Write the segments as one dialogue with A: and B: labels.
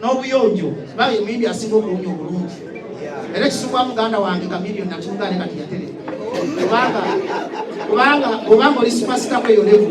A: n'obuyonjo kuba ye muyimbi asinga okuwunya obulungi era ekisubwa muganda wange kamiliyo nakimugaane kati yatere kubanga kubanga obanga oli supasita kweyo levu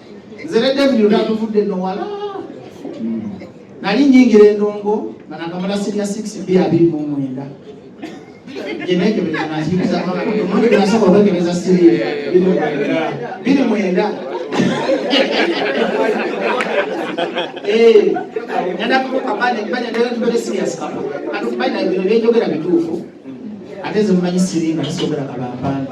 A: nze ne david otatuvudde no wala nali nyingira endongo nga nakamala sinya 6 b abiri mu mwenda genekebereasobola okwekebeza siri biri mwenda nadakukabanebanyadatuberesigyasikabano bino byenjogera bituufu ate nze mumanyi siri nga kisobera kabampanda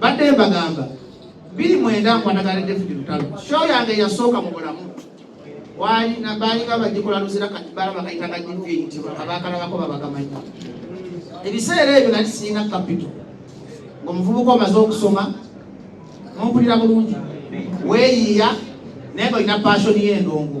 A: badde mbagamba biri mwenda nkwatagana david lutalo sho yange yasooka mu bulamu baalinga bagikola luzira kati balaba kayita nga jivi eyitibwa abaakalabako babagamanyi ebiseera ebyo nali sirina kapito ng'omuvubuka omaze okusoma mumpulira bulungi weeyiiya naye nga olina paashoni y'endongo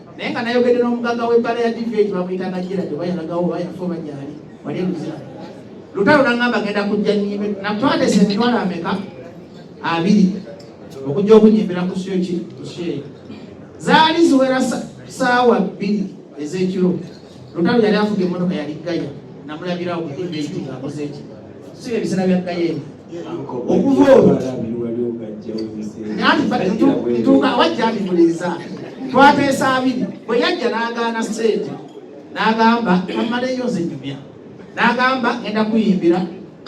A: naye nga nayogedde n'omugagga w'ebbala ya dv ekyo bamuyitanga jira gye bayalagawo bayafa oba gyali wali eluzira lutalo nangamba genda kujja nyimbe natwatesa emitwalo ameka abiri okujja okunyimbira ku syo ki ku syo eyo zaali ziwera saawa bbiri ez'ekiro lutalo yali afuga emmotoka yali gaya namulabirawo ku dv ekyo ng'akoze ekyo si ebiseera bya gaya eno okuva olwo ntuuka wajja ndimuliiza twateesa abiri bwe yajja n'agaana sente n'agamba amaleyo nze nyumya n'agamba ngenda kuyimbira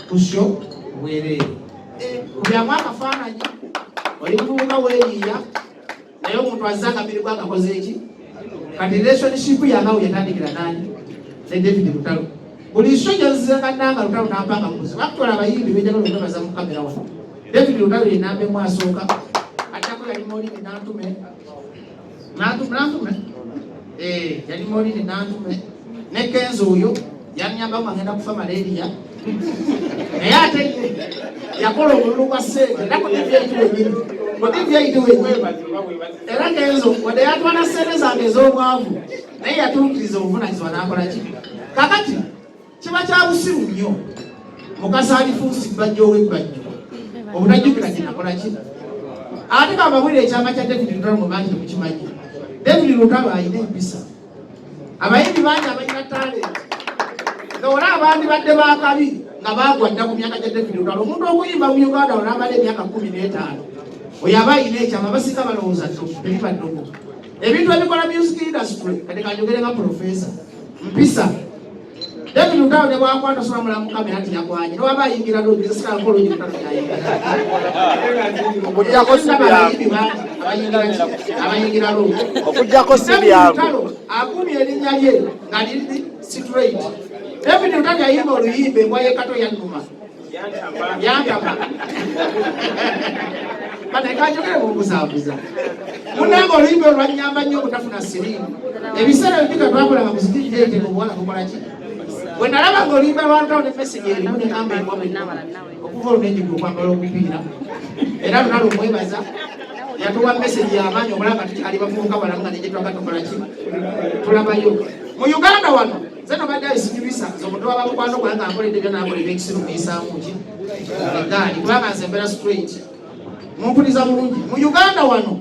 A: ku sho bwereere eh, kubyamu akafaananyi oli muvubuka weeyiiya naye omuntu azze akabiri gwakakoze eki kati relationship yanawe yatandikira nani ne david lutalo buli iso jazze kananga lutalo nampanga mukuzi bakutola abayimbi bejagala okwebaza mu kamera wano david lutalo yenambe mwasooka atako yali molini nantume nantume nantume eh, yali molini nantume ne kenzo oyo yanyamba nga ngenda kufa malaria naye ate yakola omululu gwa sente era kudivyaitu wenyini kudivyaitu wenyini era kenzo wadde yatwala sente zange ez'obwavu naye yatuukiriza obuvunanyizibwa n'akola ki kakati kiba kya busiru nnyo mukasaalifuusi bbajja ow'ebbajjo obutajjukira kinakola ki ate kamabulire ekyama kya david lutalo mu bangi temukimanyi david lutalo alina empisa abayimbi bangi abalina talenti nga wala abandibadde bakabi nga bagwa dda ku myaka gya david olwala omuntu okuyimba mu uganda olabala emyaka kumi n'etaano oyo aba ayina ekyama basinga balowooza tebiba nnogo ebintu ebikola music industry kati kanjogere nga profesa mpisa David Lutalo ne bwakwata sola mulamu kamera nti yakwanye ne waba ayingira lodi ne sikala kolo nyo kutalo kya yingira. Okujjako si byangu. Abayingira lodi. Okujjako si byangu. Lutalo akumye erinnya lye nga liri straight. David Lutalo yayimba oluyimba embwa y'ekato yannuma. yantama banekajogere kubuzabuza munange oluyimba olwanyamba nnyo obutafuna sirimu ebiseera bibika twakolanga kuzikiriteete obuwala kukolaki bwe nalaba nga oluyimba lwantawo ne mesegi erimu negamba ewamunawa okuva olunenyiga okwambala obupiira era luna lumwebaza yatuwa mesegi yamaanyi obulanga tukyali bavubuka balamu nga negyetwaga tukolaki tulabayo mu uganda wano nze nabadde ayisikiriza nze omuntu waba mukwano gwange nga nkoledde byona akola ebyekisiru muyisaamu ki egaali kubanga nze mbeera straight mumpuliza bulungi mu uganda wano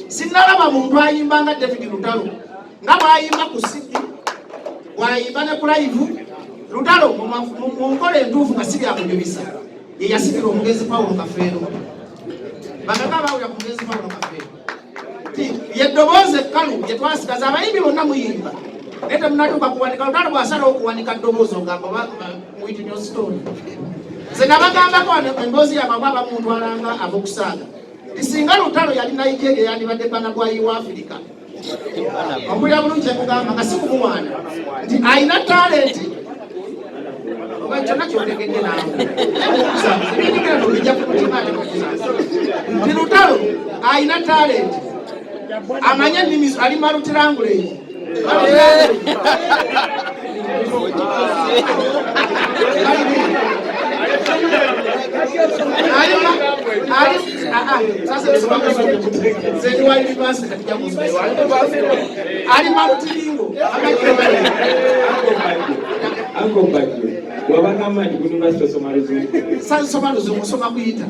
A: sinnalaba muntu ayimba nga david lutalo nga bwayimba ku sidi bwayimba ne kulayivu lutalo mu nkola entuufu nga si byakunyumisa ye yasikira omugenzi pawulo kafeero bagaga bawulira ku mugenzi pawulo kafeero yeddoboozi ekkalu gye twasigaza abayimbi bonna muyimba naye temunatuuka kuwanika lutalo bwasalawo okuwanika ddoboozi ogamba witnostone nze nabagambako emboozi yamama abamuntwalanga abokusaaga tisinga lutalo yali nigeria yandibadde bana bwayi wa afirika okulira bulungi ekugamba nga sikumuwaana nti alina talenti nti lutalo alina talenti amanye ennimi ali malutirangulei ali sasa ali
B: malutiringo sansoma luzungu
A: soma kuyita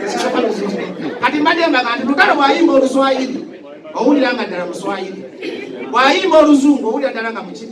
A: sisoma luzungu kati mbadde mbaga nti lugalo bwayimba oluswayiri owulira nga ddala muswayiri bwayimba oluzungu owulira ddala nga mukiri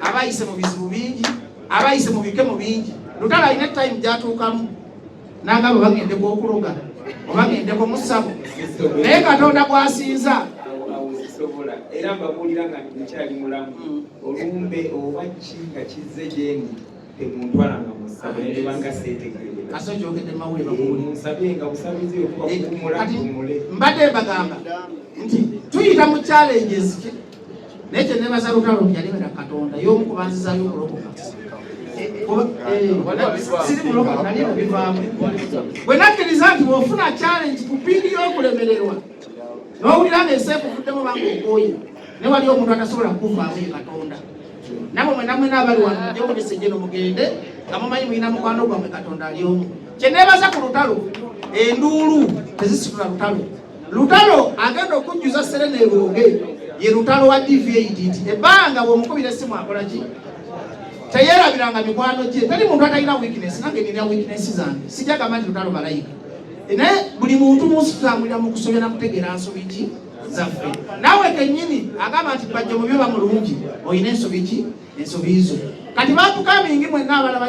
A: abayise mu bizibu bingi abayise mu bikemo bingi lutalo alina time gyatuukamu nagamba bagendeko okuloga obagendeko mu ssabo naye katonda gwasinza sobola
B: era mbabuulira nga nkyali mulamu mm. olumbe oba ki nga kizze gyendi temuntwalanga musabo nebanga
A: setegeeansabyenga eh, busabizi
B: okubakuumulaumule eh, mbadde mbagamba
A: nti tuyita mu challenges naye kyenebaza lutalo nti yalebera katonda y'omu ku banzizayo okulokoka siri mulokoka nali mubivaamu bwe nakkiriza nti bwofuna challenge ku piidi y'okulemererwa n'owulira nga eseekuvuddemu banga okwoye ne wali omuntu atasobola kukuvaamu ye katonda nabo mwena mwena abali wano mujokulisa ejeno mugende nga mumanyi mulina mukwano gwamwe katonda ali omu kyenebaza ku lutalo enduulu tezisitula lutalo Lutalo agenda okujjuza Serena ebonge ye lutalo wa DVAD nti ebbanga bw'omukubira essimu akola ki teyerabiranga mikwano gye teri muntu atalina weakness nange nina weakness zange sijja gamba nti lutalo malayika e naye buli muntu munsi tutambulira mu kusobya na kutegeera nsobi ki zaffe naawe kennyini agamba nti bajja mu byoba mulungi olina ensobi ki ensobi zo kati batukamingi mwenna abalaba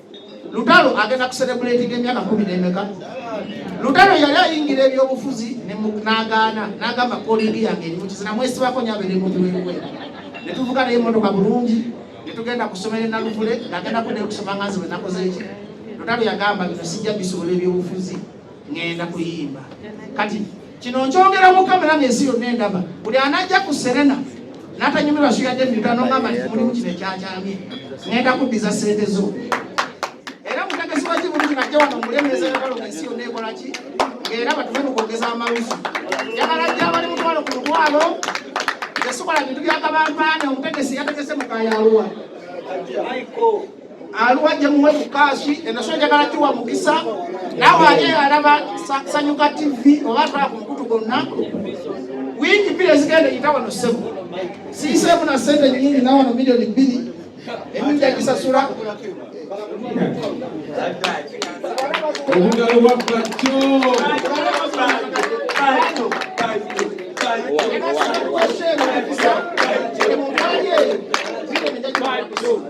A: Lutalo agenda kuserebuletinga emyaka kumi n'emeka. Lutalo yali ayingira ebyobufuzi n'agaana n'agamba kolingi yange eri mukizi namwesibako nyo abeere mu biwewe ne tuvuga naye emmotoka bulungi ne tugenda ku ssomero enaluvule ng'agenda kuddayo okusoma nga nze bwe nakoze eki Lutalo yagamba bino sijja bisobola ebyobufuzi ŋŋenda kuyimba kati kino nkyogera mu kamera ng'ensi yonna endaba buli anajja ku serena n'atanyumirwa suyadde mita nongamba nti mulimu kino ekyakyamye ŋŋenda kuddiza ssente zo era mutegesi wa kibuli kino ajja wano mulemeeza yagala ng'ensi yonna ekola ki ng'era batume mu kwogeza amalusu njagala jja abali mutwalo ku lutwalo tesobola bintu byakabampaane omutegesi yategese mu kayaluwa aluwa gye muwe ku kaashi enasoo njagala kiwa mukisa naawe ali alaba sanyuka tv oba atwala ku mukutu gonna wiiki bbiri ezigenda eyita wano ssebo siiseemu na ssente nyingi nawe no milioni bbiri emu njagisasula obugalo
C: bwa bwatyo Thank you.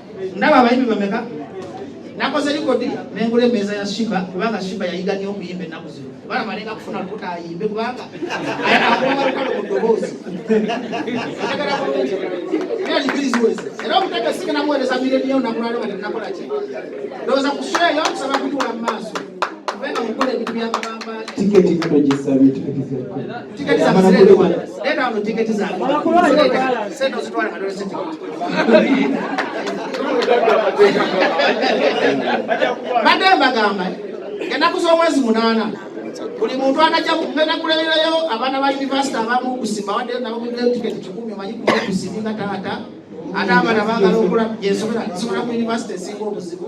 A: ndaba abayimbi bameka nakoze likodi nengula emeeza ya shiba kubanga shiba yayiga nyo okuyimba ennaku zino kubanga malenga kufuna lukuta ayimbe kubanga ayakuwamalukalo mu ddoboozi ategera bulungi era libiziwezi era omutaka sike namuwereza mireniyo nakulwalo nga tenakola ki ndowooza kusweyo kusaba kutuula mu maaso kubanga mukola ebintu byamabamba tiketi katogisabye tiketi za mzee bwana, leta hapo tiketi za sasa, usitwale madole sisi mademba gamba genda kusoma mwezi munana buli muntu anajja kugenda kuleberayo abaana ba yunivasite abamu okusimba wadde nabo mudde tiketi kikumi omanyi kukusimba taata ate abana bagala okula gyensobola nsobola ku yunivasite esinga obuzibu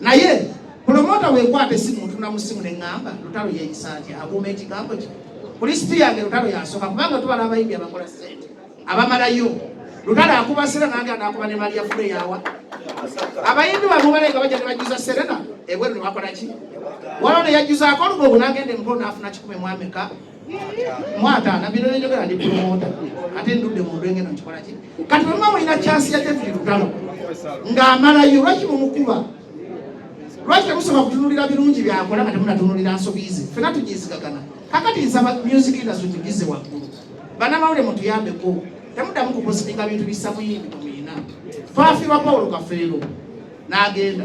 A: naye pulomota wekwate simu ntuna mu simu ne ŋŋamba lutalo yeeyisa atya akuuma ekigambo kye ku lisiti yange lutalo yasooka kubanga tubala abayimbi abakola ssente abamalayo lutalo akuba serena nange anaakuba ne maliya fule yawa abayimbi bamubale nga bajja ne bajjuza serena ebweru ne bakola ki waliwo ne yajjuzaako olugogo n'agenda emukolo n'afuna kikumi mwameka mwataana bino nenjogera ndi promota ate ndudde mundu engeno nkikola ki kati oluma mulina kyansi ya david lugalo ng'amalayo lwaki mumukuba lwaki temusoma kutunulira birungi byakola nga temunatunulira nsobi ze fena tugizigagana kakati nsaba music industry tugize waggulu banamawule mutuyambeko temudamu kupositinga bintu bisamuyimbi kumuyina twafirwa pawulo kafeero n'agenda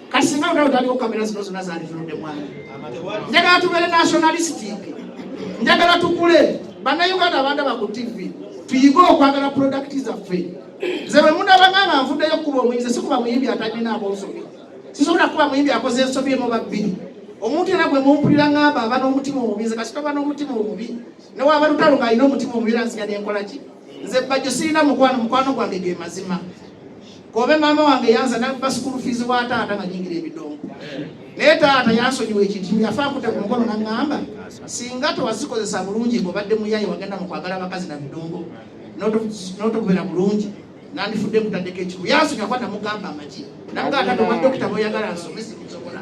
A: kati singa lutalo taliwo kamera zino zona zanditunudde mwana njagala tubeere nationalistic njagala tukule bannayuganda abanda baku tv tuyige okwagala product zaffe nze bwe munabanganga nvuddeyo okukuba omuyinza sikuba muyimbi atalina abonsobi sisobola kukuba muyimbi akoze ensobi emu babbiri omuntu era gwe mumpulira ngamba aba n'omutima omubi nze kasita aba n'omutima omubi newaba lutalo ng'alina omutima omubi era nziga nenkola ki nze bajjo sirina mukwano mukwano gwange ge mazima Kobe mama wange yansa nabba school fees wa taata nga nyingira ebidongo naye taata yansonyiwa ekintu yafa akute ku mukono naŋŋamba singa tewazikozesa bulungi ng'obadde muyaye wagenda mu kwagala abakazi na bidongo n'otokubeera bulungi nandifudde nkutaddeko ekiku yansonyiwa kuba namugamba amagi namugaa taata obwa dokita boyagala nsome sinsobola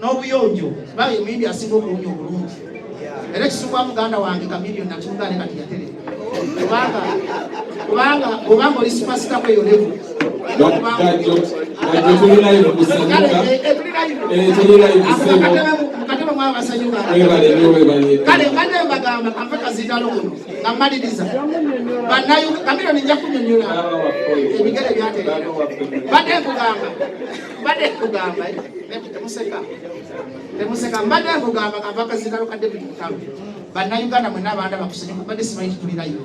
A: n'obuyonjo bali omuyimbi asinga okuwunya obulungi era ekisubwa muganda wange kamiliyo nakimugaane kati yatere kubanga kubanga obanga oli supasita kweyo levu
C: mukatebe mwaba basanyuka kale mbadde
A: mbagamba kanve kazindalo kuno nga mmaliriza banayo kamiliyo ninja kunyonyola ebigere byatere mbadde nkugamba mbadde nkugamba temuseka temuseka mbadde nkugamba kava akazikalo ka david mutalo bannayuganda mwena abaana bakusenya kubadde simanyi kitulirayo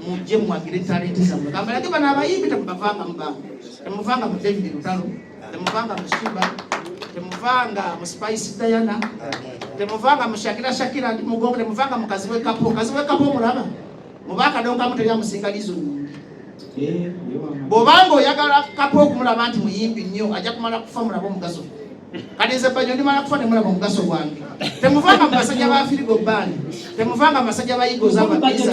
A: mujje muwagire talenti zamwe gamba nage bano abayimbi temubavanga mubanga temuvanga mu david lutalo temuvanga mu shiba temuvanga mu spice diana temuvanga mu shakira shakira mugongo temuvanga mu kaziwekapo kaziwekapo omulaba oba akadonkamu teri amusinga lizo nyingi eh, bwobanga oyagala kapa okumulaba nti muyimbi nnyo ajja kumala kufa mulaba omugaso kati nze banyo ndimala kufa nemulaba omugaso gwange temuvanga mu basajja ba firigo bani temuvanga mu basajja ba igoza babiza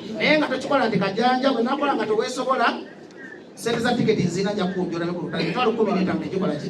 A: naye nga tokikola nti kajanja bwe nakola nga teweesobola sente za tiketi nzina nja kukunjula ne ku lutale emitwalo kkumi n'etaano tegikola ki